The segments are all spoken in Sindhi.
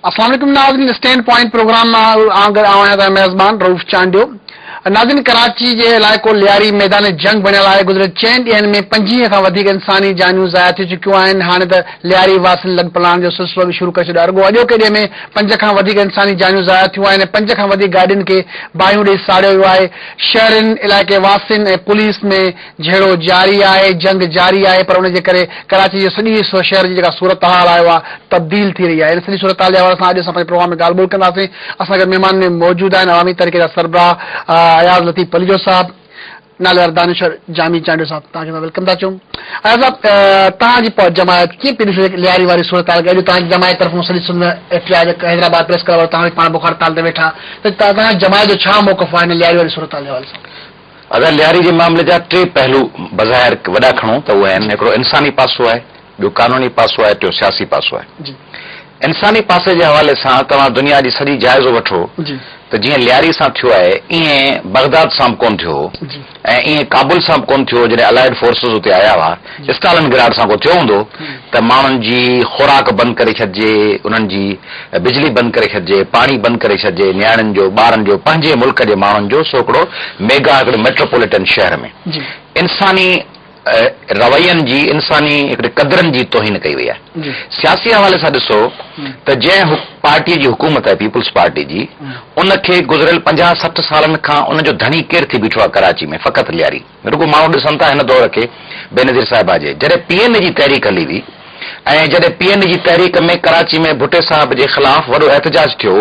السلام عليڪم ناظرين اسٽينڊ پوائنٽ پروگرام مان آن گڏ آهيان تهان ميزبان روف چانڊيو ناظرين ڪراچي جي علائقو لياري ميدان جنگ بڻيل آهي گذريل چئن ڏينهن ۾ پنجيهه کان وڌيڪ انساني جانيون ضايع ٿي چڪيون آهن هاڻي ته لياري واسين لڳ پلاڻ جو سلسلو به شروع ڪري ڇڏيو اڳو اڄوڪي ڏينهن ۾ پنج کان وڌيڪ انساني جانيون ضايع ٿيون آهن پنج کان وڌيڪ گاڏين کي باهيون ڏئي ساڙيو ويو آهي شهرين، علائقي واسين ۽ پوليس ۾ جهيڙو جاري آهي، جنگ جاري آهي پر ان جي ڪري ڪراچي جي سڄي شهر جي جيڪا صورتحال آهي اها تبديل ٿي رهي آهي ان سڄي صورتحال جي حوالي سان اڄ اسان پنهنجي پروگرام ۾ ڳالهه ٻولهه ڪنداسين اسان گڏ مهمان ۾ موجود آهن عوامي تحريڪ جا سربراهه اياز لطيف پليجو صاحب ناليوار دانشور جامي چانڊيو صاحب توهان کي اسان ويلڪم ٿا چون اياز صاحب توهان جي جماعت ڪيئن پي ڏسي لياري واري صورتحال کي اڄ توهان جي جماعت طرفان سڄي سنڌ ۾ احتجاج حيدرآباد پريس ڪلب وارو توهان به پاڻ بک هڙتال تي ويٺا ته تازا هاڪ جماعت جو ڇا موقف آهي هن لياري واري صورتحال جي حوالي سان؟ اگر لياري جي معاملي جا ٽي پهلو بظاهر وڏا کڻون ته اهي آهن هڪڙو انساني پاسو آهي، ٻيو قانوني پاسو آهي، ٽيون سياسي پاسو آهي. انساني پاسي جي حوالي سان توهان دنيا جي سڄي جائزو وٺو ته جيئن لياري سان ٿيو آهي ايئن بغداد سان به ڪونه ٿيو هو. ۽ ائين ڪابل سان به ڪونه ٿيو هو جڏهن الائيڊ فورسز اتي آيا هئا، اسٽالن گراڊ سان ڪو ٿيو هوندو ته ماڻهن جي خوراڪ بند ڪري ڇڏجي، انهن جي بجلي بند ڪري ڇڏجي، پاڻي بند ڪري ڇڏجي، نياڻين جو، ٻارن جو، پنهنجي ملڪ جي ماڻهن جو سو هڪڙو ميگا هڪڙي ميٽروپوليٽن شهر ۾ انساني روين جي انساني هڪڙي قدرن جي توهين ڪئي وئي آهي سياسي حوالي سان ڏسو ته جنهن پارٽي جي حڪومت آهي پيپلز پارٽي جي ان کي گذريل پنجاهه سٺ سالن کان ان جو ڌڻي ڪير ٿي بيٺو آهي ڪراچي ۾ فقط لياري رڳو ماڻهو ڏسن ٿا هن دور کي بينظير صاحبه جي جڏهن پي اين اي جي تحريڪ هلي هئي ۽ جڏهن پي اين اي جي تحريڪ ۾ ڪراچي ۾ ڀٽي صاحب جي خلاف وڏو احتجاج ٿيو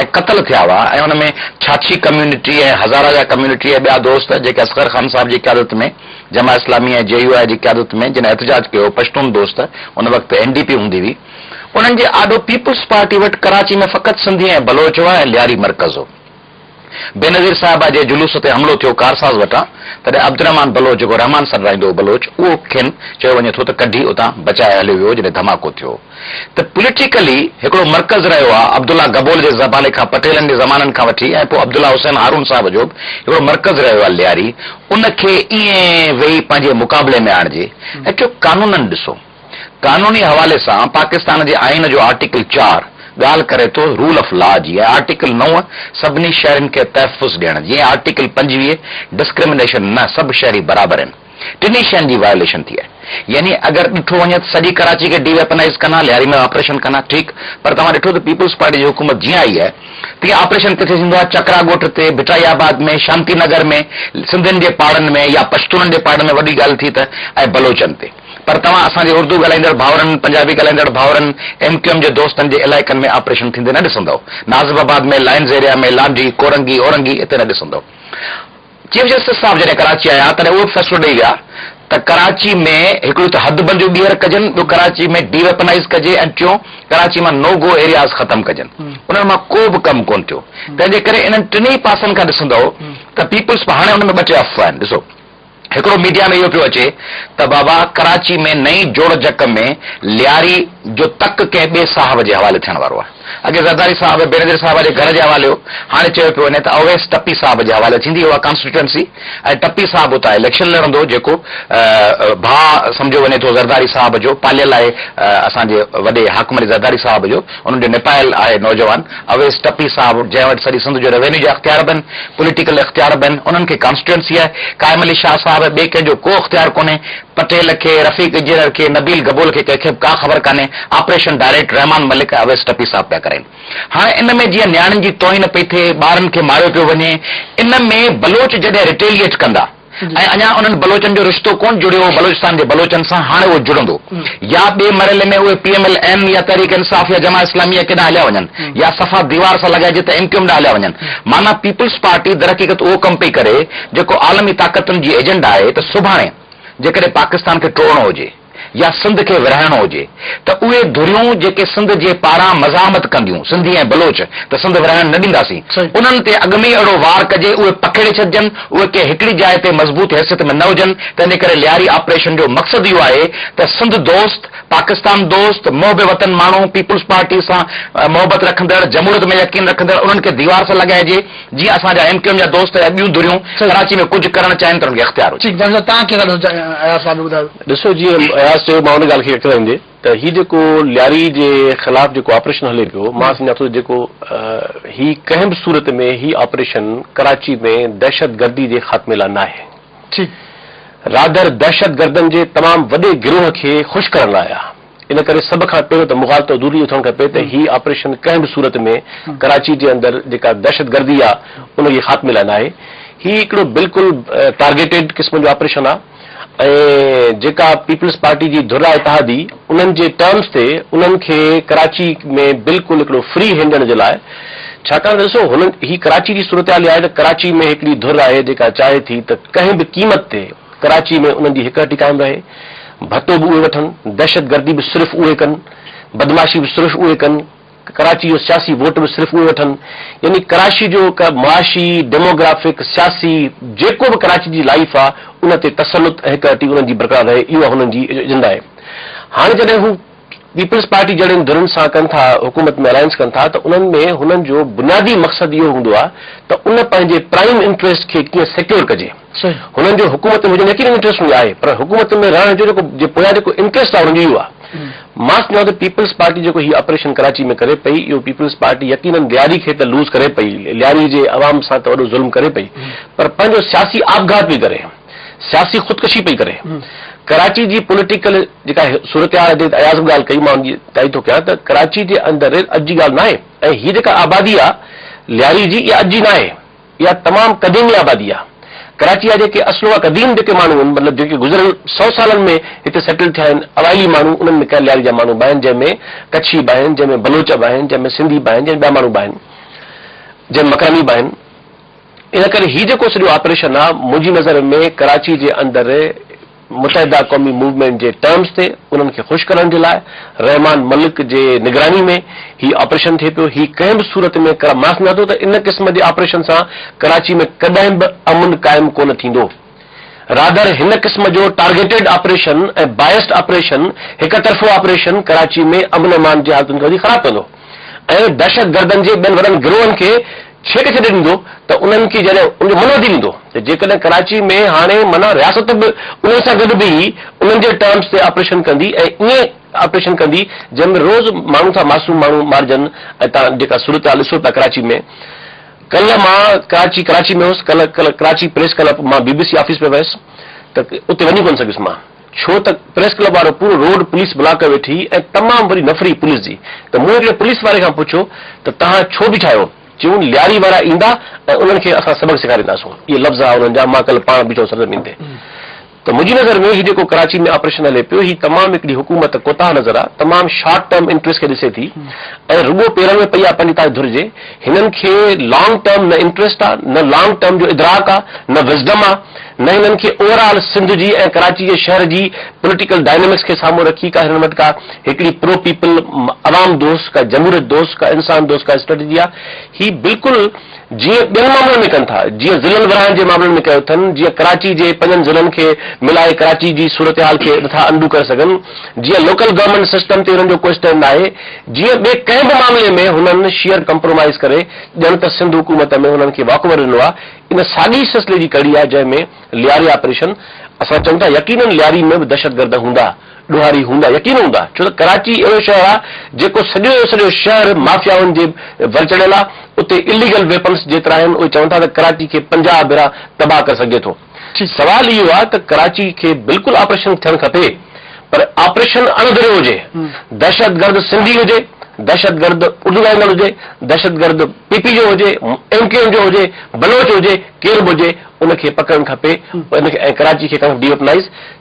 ۽ قتل ٿيا هئا ۽ ان ۾ ڇاڇي ڪميونٽي ۽ هزاره جا ڪميونٽي ۽ ٻيا دوست جيڪي اصغر خان صاحب جي قيادت ۾ جماعت اسلامي ۽ جي يو آء جي قيادت ۾ جن احتجاج ڪيو، پشتون دوست، ان وقت اين ڊي پي هوندي هئي، انهن جي آڏو پيپلز پارٽي وٽ ڪراچي ۾ فقط سنڌي ۽ بلوچ هئا ۽ لياري مرڪز هو. بينظير صاحبه جي جلوس تي حملو ٿيو ڪارساز وٽان، تڏهن عبدالرحمان بلوچ جيڪو رحمان سان رهندو هو بلوچ، اهو کين چيو وڃي ٿو ته ڪڍي اتان بچائي هليو ويو جڏهن ڌماڪو ٿيو. ته پوليٽيڪلي هڪڙو مرڪز رهيو آ، عبدالله گبول جي زبالي کان پٽيلن جي زمانن کان وٺي ۽ پوء عبدالله حسين هارون صاحب جو به هڪڙو مرڪز رهيو آ لياري، ان کي ائين ويهي پنهنجي مقابلي ۾ آڻجي ۽ ٽيون قانونن ڏسو. قانوني حوالي سان پاڪستان جي آئين جو آرٽيڪل چار ڳالهه ڪري ٿو رول آف لا جي ۽ آرٽيڪل نو سڀني شهرين کي تحفظ ڏيڻ جي ۽ آرٽيڪل پنجويهه ڊسڪرمنيشن نه سڀ شهري برابر هن. ٽنهي شين جي وائوليشن ٿي آهي يعني اگر ڏٺو وڃي ته سڄي ڪراچي کي ڊي ويپنائيز ڪن ها لياري ۾ آپريشن ڪن ها ٺيڪ پر توهان ڏٺو ته پيپلز پارٽي جي حڪومت جيئن آئي آهي تيئن آپريشن ڪٿي ٿيندو آهي چڪرا ڳوٺ تي ڀٽائي آباد ۾ شانتي نگر ۾ سنڌين جي پاڙن ۾ يا پشتونن جي پاڙن ۾ وڏي ڳالهه ٿي ته ۽ بلوچن تي پر توهان اسان جي اردو ڳالهائيندڙ ڀائرن پنجابي ڳالهائيندڙ ڀائرن ايم ڪيو ايم جي دوستن جي علائقن ۾ آپريشن ٿيندي نه ڏسندؤ Nazimabad ۾ lines area ۾ Landhi Korangi Orangi اتي نه ڏسندؤ چيف جسٽس صاحب جڏهن ڪراچي آيا تڏهن اهو به فيصلو ڏئي ويا ته ڪراچي ۾ هڪڙيون ته حد بنديون ٻيهر ڪجن، ٻيو ڪراچي ۾ ڊي ويپنائيز ڪجي ۽ ٽيون ڪراچي مان نو گو ايرياز ختم ڪجن. انهن مان ڪو به ڪم ڪونه ٿيو. تنهن جي ڪري انهن ٽنهي پاسن کان ڏسندؤ ته پيپلز هاڻي ان ۾ ٻه ٽي افواهه آهن. ڏسو هڪڙو ميڊيا ۾ اهو پيو اچي ته بابا ڪراچي ۾ نئين جوڙجڪ ۾ لياري جو تڪ ڪنهن ٻئي صاحب جي حوالي ٿيڻ وارو آهي. اڳي زرداري صاحب بينظير صاحب جي گهر جي حواليو هاڻي چيو پيو وڃي ته اويس ٽپي صاحب جي حوالي ٿيندي اها ڪانسٽيٽوئنسي ۽ ٽپي صاحب اتان اليڪشن لڙندو جيڪو ڀاء سمجهيو وڃي ٿو زرداري صاحب جو پاليل آهي اسان جي وڏي حاڪم علي زرداري صاحب جو انهن جو نپايل آهي نوجوان اويس ٽپي صاحب جنهن وٽ سڄي سنڌ جو روينيو جا اختيار به آهن پوليٽيڪل اختيار به آهن انهن کي ڪانسٽيٽوئنسي آهي قائم علي شاهه صاحب ٻئي ڪنهن جو ڪو اختيار ڪونهي پٽيل کي، رفيق اجيرر کي، نبيل گبول کي ڪنهن کي به ڪا خبر ڪانهي، آپريشن ڊائريڪٽ رحمان ملڪ ۽ اويس ٽپي صاحب پيا ڪرين. هاڻ ان ۾ جيئن نياڻين جي توهين پئي ٿئي، ٻارن کي ماريو پيو وڃي، ان ۾ بلوچ جڏهن رٽيليئيٽ ڪندا ۽ اڃا انهن بلوچن جو رشتو ڪونه جڙيو هو بلوچستان جي بلوچن سان، هاڻي اهو جڙندو يا ٻئي مرحلي ۾ اهي پي ايم ايل اين يا تحريڪ انصاف يا جماعت اسلاميه ڪيڏانهن هليا وڃن يا صفا ديوار سان لڳائجي ته ايم ڪيو ايم ڏانهن هليا وڃن. معنيٰ پيپلز پارٽي درحقيقت اهو ڪم پئي ڪري جيڪو عالمي طاقتن جي ايجنڊا آهي ته سڀاڻي جيڪڏهن پاڪستان کي ٽوڙڻو هجي يا سنڌ کي ورهائڻو هجي ته اهي ڌريون جيڪي سنڌ جي پاران مزاحمت ڪنديون سنڌي ۽ بلوچ ته سنڌ ورهائڻ نه ڏينداسين انهن تي اڳ ۾ ئي اڙو وار ڪجي اهي پکيڙي ڇڏجن اهي ڪنهن هڪڙي جاء تي مضبوط حيثيت ۾ نه هجن تنهنجي ڪري لياري آپريشن جو مقصد اهو آهي ته سنڌ دوست پاڪستان دوست محب وطن ماڻهو پيپلز پارٽي سان محبت رکندڙ جمهوريت ۾ يقين رکندڙ انهن کي ديوار سان لڳائجي جيئن اسان جا ايم ڪيو ايم جا دوست يا ٻيون ڌريون ڪراچي ۾ ڪجهه ڪرڻ چاهين ته انهن کي اختيار هجي. ٺيڪ ڊاڪٽر صاحب توهان ڪيئن ٿا ڏسو اياز صاحب جو ٻڌايو. ڏسو جيئن اياز چيو مان ان ڳالهه کي اڪلائيندي ته هي جيڪو لياري جي خلاف جيڪو آپريشن هلي پيو مان سمجهان ٿو جيڪو هي ڪنهن به صورت ۾ هي آپريشن ڪراچي ۾ دهشت گردي جي خاتمي لاء ناهي ٺيڪ رادر دهشت گردن جي تمام وڏي گروهه کي خوش ڪرڻ لاء آ. ان ڪري سڀ کان پهريون ته مغالطو ضروري اٿڻ کپي ته هي آپريشن ڪنهن به صورت ۾ ڪراچي جي اندر جيڪا دهشتگردي آ ان جي خاتمي لاء ناهي. هي هڪڙو بلڪل ٽارگيٽيڊ قسم جو آپريشن آ ۽ جيڪا پيپلز پارٽي جي ڌر آ اتحادي انهن جي ٽرمز تي انهن کي ڪراچي ۾ بلڪل هڪڙو فري هينڊ ڏيڻ جي لاء ڇاڪاڻ ته ڏسو هنن هي ڪراچي جي صورتحال اها آهي ته ڪراچي ۾ هڪڙي ڌر آهي جيڪا چاهي ٿي ته ڪنهن به قيمت تي ڪراچي ۾ انهن جي هڪ هٽي قائم رهي، ڀتو به اهي وٺن، دهشت گردي به صرف اهي ڪن، بدمعاشي به صرف اهي ڪن، ڪراچي جو سياسي ووٽ به صرف اهي وٺن، يعني ڪراچي جو معاشي، ڊيموگرافڪ، سياسي جيڪو به ڪراچي جي لائيف آ ان تي تسلط ۽ هڪ هٽي انهن جي برقرار رهي اهو هنن جي ايجنڊا آهي. هاڻي جڏهن هو. پيپلز پارٽي جهڙين ڌرين سان ڪن ٿا حڪومت ۾ الائنس ڪن ٿا ته انهن ۾ هنن جو بنيادي مقصد اهو هوندو آهي ته ان پنهنجي پرائيم انٽريسٽ کي ڪيئن سيڪيور ڪجي هنن جو حڪومت ۾ هجڻ يقينن انٽريسٽ هوندي آهي پر حڪومت ۾ رهڻ جو جيڪو جي پويان جيڪو انٽريسٽ آهي انهن جو اهو آهي مان سمجهان ٿو پيپلز پارٽي جيڪو هي آپريشن ڪراچي ۾ ڪري پئي اهو پيپلز پارٽي يقينن لياري کي ته لوز ڪري پئي لياري جي عوام سان ته وڏو ظلم ڪري پئي پر پنهنجو سياسي آپگهات پئي ڪري سياسي خودڪشي پئي ڪري ڪراچي جي پوليٽيڪل جيڪا صورتحال حضرت اياز به ڳالهه ڪئي مان ان جي تائيد ٿو ڪيان ته ڪراچي جي اندر اڄ جي ڳالهه ناهي ۽ هي جيڪا آبادي آ لياري جي اها اڄ جي ناهي اها تمام قديمي آبادي آ ڪراچي جا جيڪي اصل اها قديم جيڪي ماڻهو آهن مطلب جيڪي گذريل سئو سالن ۾ هتي سيٽل ٿيا آهن اوائلي ماڻهو انهن ۾ ڪنهن لياري جا ماڻهو به آهن جنهن ۾ ڪڇي به آهن جنهن ۾ بلوچ به آهن جنهن ۾ سنڌي به آهن جنهن ٻيا ماڻهو به آهن جنهن مڪراني به آهن ان ڪري هي جيڪو سڄو آپريشن آ منهنجي نظر ۾ ڪراچي جي اندر متحده قومي موومينٽ جي ٽرمز تي انهن کي خوش ڪرڻ جي لاء رحمان ملڪ جي نگراني ۾ هي آپريشن ٿئي پيو هي ڪنهن به صورت ۾ ڪرا ماس نه ٿو ته ان قسم جي آپريشن سان ڪراچي ۾ ڪڏهن به امن قائم ڪونه ٿيندو. رادر هن قسم جو ٽارگيٽيڊ آپريشن ۽ بائسڊ آپريشن، هڪ طرفو آپريشن، ڪراچي ۾ امن امان جي حالتن کي وڌيڪ خراب ڪندو ۽ دهشت گردن جي ٻين وڏن گروهن کي ڇيڪ ڇڏي ڏيندو ته انهن کي جڏهن ان جو منهن وڌي ويندو ته جيڪڏهن ڪراچي ۾ هاڻي معنيٰ رياست به انهن سان گڏ بيهي انهن جي ٽرمز تي آپريشن ڪندي ۽ ائين آپريشن ڪندي جنهن ۾ روز ماڻهو ٿا معصوم ماڻهو مارجن ۽ تان جيڪا صورتحال ڏسو پيا ڪراچي ۾ ڪلهه مان ڪراچي ڪراچي ۾ هوس ڪلهه ڪلهه ڪراچي پريس ڪلب مان بي بي سي آفيس پئي ويس ته اتي وڃي ڪونه سگهيس مان ڇو ته پريس ڪلب وارو پورو روڊ پوليس بلاڪ ڪيو ويٺي هئي ۽ تمام وڏي نفري پوليس جي ته مون هڪڙي پوليس واري کان پڇيو ته توهان ڇو بيٺا آهيو چيون لياري وارا ايندا ۽ انهن کي اسان سبق سيکارينداسون اهي لفظ ها انهن جا مان ڪلهه پاڻ بيٺو هوس سرزمين تي ته منهنجي نظر ۾ هي جيڪو ڪراچي ۾ آپريشن هلي پيو هي تمام هڪڙي حڪومت ڪوتاهه نظر آ تمام شارٽ ٽرم انٽريسٽ کي ڏسي ٿي ۽ رڳو پيرن ۾ پئي آ پنهنجي تاج ڌر جي هنن کي لانگ ٽرم نه انٽريسٽ آ نه لانگ ٽرم جو ادراڪ آ نه وزڊم آ نه هنن کي اوورآل سنڌ جي ۽ ڪراچي جي شهر جي پوليٽيڪل ڊائنامڪس کي سامهون رکي ڪا هنن وٽ ڪا هڪڙي پرو پيپل عوام دوست ڪا جمهوريت دوست ڪا انسان دوست ڪا اسٽريٽجي آ هي بلڪل جيئن ٻين معاملن ۾ ڪن ٿا، جيئن ضلعن ورهائڻ جي معاملن ۾ ڪيو اٿن، جيئن ڪراچي جي پنجن ضلعن کي ملائي ڪراچي جي صورتحال کي نٿا انڊو ڪري سگهن، جيئن لوڪل گورنمينٽ سسٽم تي انهن جو ڪو اسٽينڊ ناهي، جيئن ٻئي ڪنهن به معاملي ۾ هنن شيئر ڪمپرومائيز ڪري ڄڻ ته سنڌ حڪومت ۾ هنن کي واڪ اوور ڏنو آهي، ان ساڳي سلسلي جي ڪڙي آهي جنهن ۾ لياري آپريشن اسان چئون ٿا يقينن لياري ۾ به دهشتگرد هوندا. ڏوهاري هوندا يقينن هوندا ڇو ته ڪراچي اهڙو شهر آ جيڪو سڄو جو سڄو شهر مافيائن جي ور چڙهيل آ اتي اليگل ويپنس جيترا آهن اهي چون ٿا ته ڪراچي کي پنجاهه ڀيرا تباهه ڪري سگهجي ٿو سوال اهو آ ته ڪراچي کي بلڪل آپريشن ٿيڻ کپي پر آپريشن اڻ ڌريو هجي دهشت گرد سنڌي هجي دهشت گرد اردو ڳالهائيندڙ هجي دهشت گرد پي پي جو هجي ايم ڪيو ايم جو هجي بلوچ هجي ڪير به هجي ان کي پڪڙڻ کپي ان کي ۽ ڪراچي کي ڪرڻ کپي ڊي ويپنائيز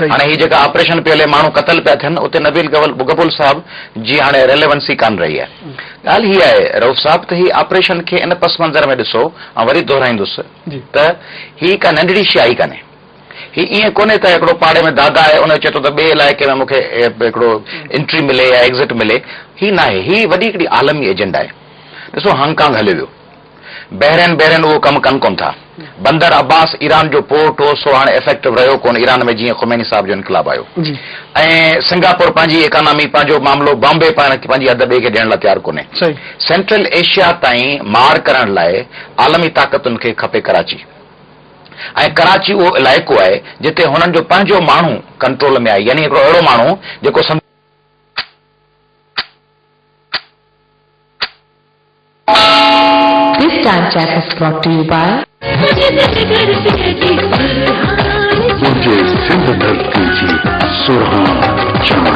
هاڻي هي جيڪا آپريشن پيو هلي ماڻهو قتل پيا ٿين اتي نبيل گبول صاحب جي هاڻي ريليونسي ڪانه رهي آهي ڳالهه هي آهي رئوف صاحب ته هي آپريشن کي ان پس منظر ۾ ڏسو آئون وري دهرائيندس ته هي ڪا ننڍڙي شي آهي ڪانهي هي ائين ڪونهي ته هڪڙو پاڙي ۾ دادا آهي ان چئي ٿو ته ٻئي علائقي ۾ مون کي هڪڙو انٽري ملي يا ايگزٽ ملي هي ناهي هي وڏي هڪڙي عالمي ايجنڊا آهي ڏسو هانگ ڪانگ هليو ويو بحرين بحرين اهو ڪم ڪن ڪونه ٿا. بندر عباس ايران جو پورٽ هو سو هاڻي افيڪٽو رهيو ڪونه ايران ۾ جيئن خميني صاحب جو انقلاب آيو ۽ سنگاپور پنهنجي ايڪانامي پنهنجو معاملو بامبي پاڻ پنهنجي حد ٻئي کي ڏيڻ لاء تيار ڪونه سينٽرل ايشيا تائين مار ڪرڻ لاء عالمي طاقتن کي کپي ڪراچي ۽ ڪراچي اهو علائقو آهي جتي هنن جو پنهنجو ماڻهو ڪنٽرول ۾ آهي يعني هڪڙو اهڙو ماڻهو جيڪو This time check is brought to you by. ڪجي سنڌ ڌرتي جي سرهاڻ چاڻ.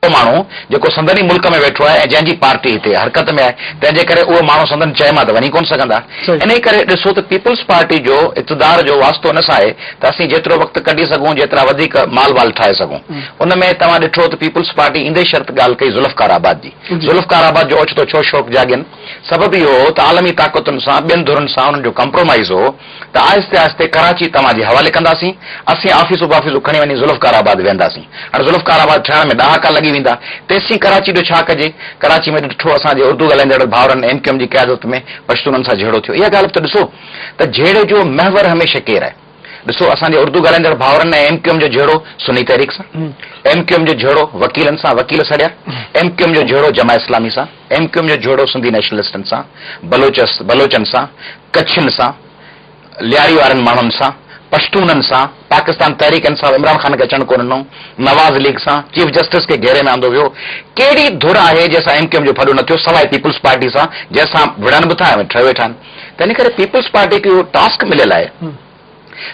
اهو ماڻهو جيڪو سندن ئي ملڪ ۾ ويٺو آهي ۽ جنهن جي پارٽي هتي حرڪت ۾ آهي تنهن جي ڪري اهي ماڻهو سندن چئي مان ته وڃي ڪونه سگهندا انهي ڪري ڏسو ته پيپلز پارٽي جو اقتدار جو واسطو ان سان آهي ته اسين جيترو وقت ڪڍي سگهون جيترا وڌيڪ مال وال ٺاهي سگهون ان ۾ توهان ڏٺو ته پيپلز پارٽي ايندي شرط ڳالهه ڪئي ذوالفقار آباد جي ذوالفقار آباد جو اوچتو ڇو شوق جاڳين؟ سبب اهو هو ته عالمي طاقتن سان ٻين ڌرين سان انهن جو ڪمپرومائيز هو ته آهستي آهستي ڪراچي توهان جي حوالي ڪنداسين، اسين آفيسون بافيسون کڻي وڃي ذوالفقار آباد ويهنداسين. هاڻي ذوالفقار آباد ٺهڻ ۾ ڏهاڪا لڳي ويندا، تيسين ڪراچي جو ڇا ڪجي؟ ڪراچي ۾ ڏٺو اسان جي اردو ڳالهائيندڙ ڀائرن ايم ڪيو ايم جي قيادت ۾ پشتونن سان جهيڙو ٿيو. اها ڳالهه به ته ڏسو ته جهيڙي جو محور هميشه ڪير آهي؟ ڏسو اسان جي اردو ڳالهائيندڙ ڀائرن ۽ ايم ڪيو ايم جو جهيڙو سني تحريڪ سان، ايم ڪيو ايم جو جهيڙو وڪيلن سان، وڪيل سڙيا، ايم ڪيو ايم جو جهيڙو جماعت اسلامي سان، ايم ڪيو ايم جو جهيڙو سنڌي نيشنلسٽن سان، بلوچ بلوچن سان، ڪڇين سان، لياري وارن ماڻهن سان، پشتونن سان، پاڪستان تحريڪ انصاف عمران خان کي اچڻ ڪو ڏنو، نواز ليگ سان، چيف جسٽس کي گهيري ۾ آندو ويو، ڪهڙي ڌر آهي جنهن سان ايم ڪيو ايم جو ڦڏو نه ٿيو سواء پيپلز پارٽي سان جنهن سان وڙهن به ٿا ۽ ٺهي ويٺا آهن. تنهن ڪري پيپلز پارٽي کي اهو ٽاسڪ مليل آهي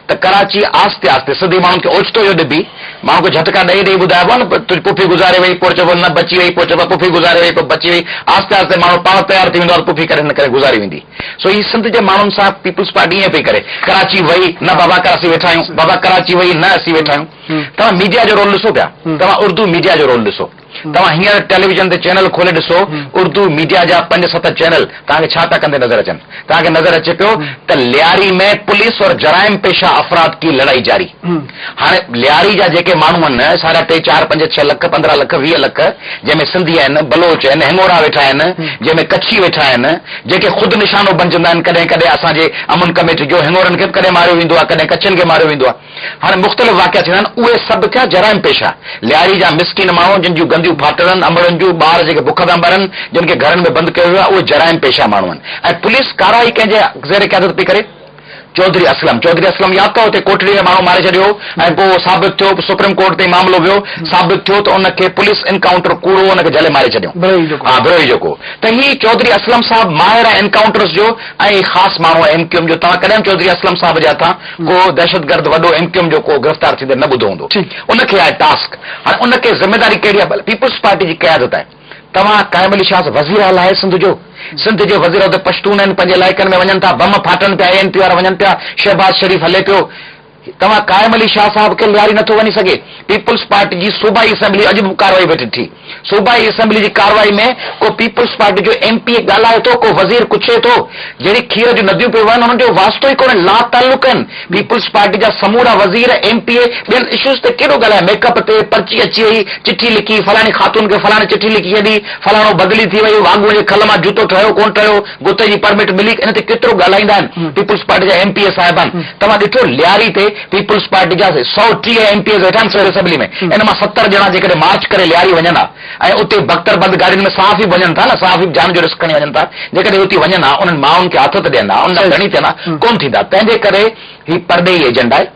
ته ڪراچي آهستي آهستي سڌي ماڻهن کي اوچتو اهو ڏبي، ماڻهن کي جهٽڪا ڏئي ڏئي ٻڌائبو آهي نه تنهنجي پڦي گذاري وئي پوء چئبو نه بچي وئي پوء چئبو پڦي گذاري وئي پوء بچي وئي آهستي آهستي ماڻهو پاڻ تيار ٿي ويندو آهي ته پڦي ڪري نه ڪري گذاري ويندي سو هي سنڌ جي ماڻهن سان پيپلز پارٽي ائين پئي ڪري ڪراچي وئي نه بابا ڪراچي ويٺا آهيون بابا ڪراچي وئي نه اسين ويٺا آهيون توهان ميڊيا جو رول ڏسو پيا توهان اردو ميڊيا جو رول ڏسو. توهان هينئر ٽيليويزن تي چينل کولي ڏسو، اردو ميڊيا جا پنج ست چينل توهان کي ڇا پيا ڪندي نظر اچن؟ توهان کي نظر اچي پيو ته لياري ۾ پوليس اور جرائم پيشه افراد ڪي لڙائي جاري. هاڻي لياري جا جيڪي ماڻهو آهن سارا ٽي چار پنج ڇهه لک پندرهن لک ويهه لک جنهن ۾ سنڌي آهن، بلوچ آهن، هڱورا ويٺا آهن، جنهن ۾ ڪڇي ويٺا آهن، جيڪي خود نشانو بنجندا آهن ڪڏهن ڪڏهن اسان جي امن ڪميٽي جو هڱورن کي به ڪڏهن ماريو ويندو آهي ڪڏهن ڪڇين کي ماريو ويندو آهي. هاڻي مختلف واقعا ٿيڻا آهن، اهي سڀ ٿيا جرائم پيشه، لياري جا مسڪين ماڻهو، جن جون گنديون ڦاٽڙن، امڙن جون، ٻار جيڪي بک ٿا مرن، جن کي گهرن ۾ بند ڪيو ويو آهي، اهي جرائم پيشه ماڻهو آهن ۽ پوليس ڪارروائي ڪنهن جي زير قيادت پئي ڪري؟ چوڌري اسلم، چوڌري اسلم ياد اٿو اتي ڪوٽڙي ۾ ماڻهو ماري ڇڏيو هو ۽ پوء ثابت ٿيو، سپريم ڪورٽ تائين معاملو ويو، ثابت ٿيو ته ان کي پوليس انڪائونٽر ڪوڙو ان کي جهلي ماري ڇڏيائون، ها بروهي جيڪو، ته هي چوڌري اسلم صاحب ماهر آهي انڪائونٽرس جو ۽ خاص ماڻهو آهي ايم ڪيو ايم جو، توهان ڪڏهن به چوڌري اسلم صاحب جي هٿان ڪو دهشتگرد وڏو ايم ڪيو ايم جو ڪو گرفتار ٿيندي نه ٻڌو هوندو ان کي آهي ٽاسڪ هاڻي ان کي ذميداري ڪهڙي آهي پيپلز پارٽي جي قيادت آهي توهان قائم علي شاز وزير اعليٰ آهي سنڌ جو سنڌ جي وزير عهدي پشتون آهن پنهنجي علائقن ۾ وڃن ٿا بم ڦاٽن پيا اي اين پي وارا وڃن پيا شهباز شريف هلي پيو توهان قائم علي شاز صاحب کي لياري نٿو وڃي سگهي پيپلز پارٽي جي صوبائي اسيمبلي اڄ به ڪارروائي ويٺي ٺھي صوبائي اسيمبلي جي ڪارروائي ۾ ڪو پيپلز پارٽي جو ايم پي اي ڳالهائي ٿو، ڪو وزير ڪڇي ٿو، جهڙي کير جون نديون پيون وهن انهن جو واسطو ئي ڪونهي، لاتعلق آهن، پيپلز پارٽي جا سمورا وزير، ايم پي اي ٻين اشوز تي ڪيڏو ڳالهايا، ميڪ اپ تي پرچي اچي وئي، چٺي لکي فلاڻي خاتون کي فلاڻي چٺي لکي ڇڏي، فلاڻو بدلي ٿي ويو، واڳونء جي کل مان جوتو ٺهيو ڪونه ٺهيو، گتي جي پرمٽ ملي، انهن تي ڪيترو ڳالهائيندا آهن، پيپلز پارٽي جا ايم پي اي صاحبان، توهان ڏٺو لياري تي. پيپلز پارٽي جا سؤ ٽيهه ايم پي ايز ويٺا آهن صوبائي اسيمبلي ۾ ان مان ستر ڄڻا جيڪڏهن مارچ ڪري لياري وڃن ها ۽ اتي بڪتر بند گاڏين ۾ صحافي به وڃن ٿا نه صحافي به جان جو رسڪ کڻي وڃن ٿا جيڪڏهن اتي وڃن ها انهن مائن کي آٿت ڏين ها انهن جا ڌڻي ٿين ها ڪونه ٿيندا تنهنجي ڪري هي پرڏيهي ايجنڊا آهي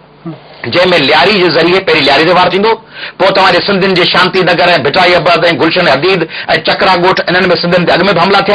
جنهن ۾ لياري جي ذريعي پهرين لياري تي وار ٿيندو پوء توهان جي سنڌين جي شانتي نگر ۽ ڀٽائي ابد ۽ گلشن حديد ۽ چڪرا ڳوٺ انهن ۾ سنڌين تي اڳ ۾ به حملا ٿيا آهن.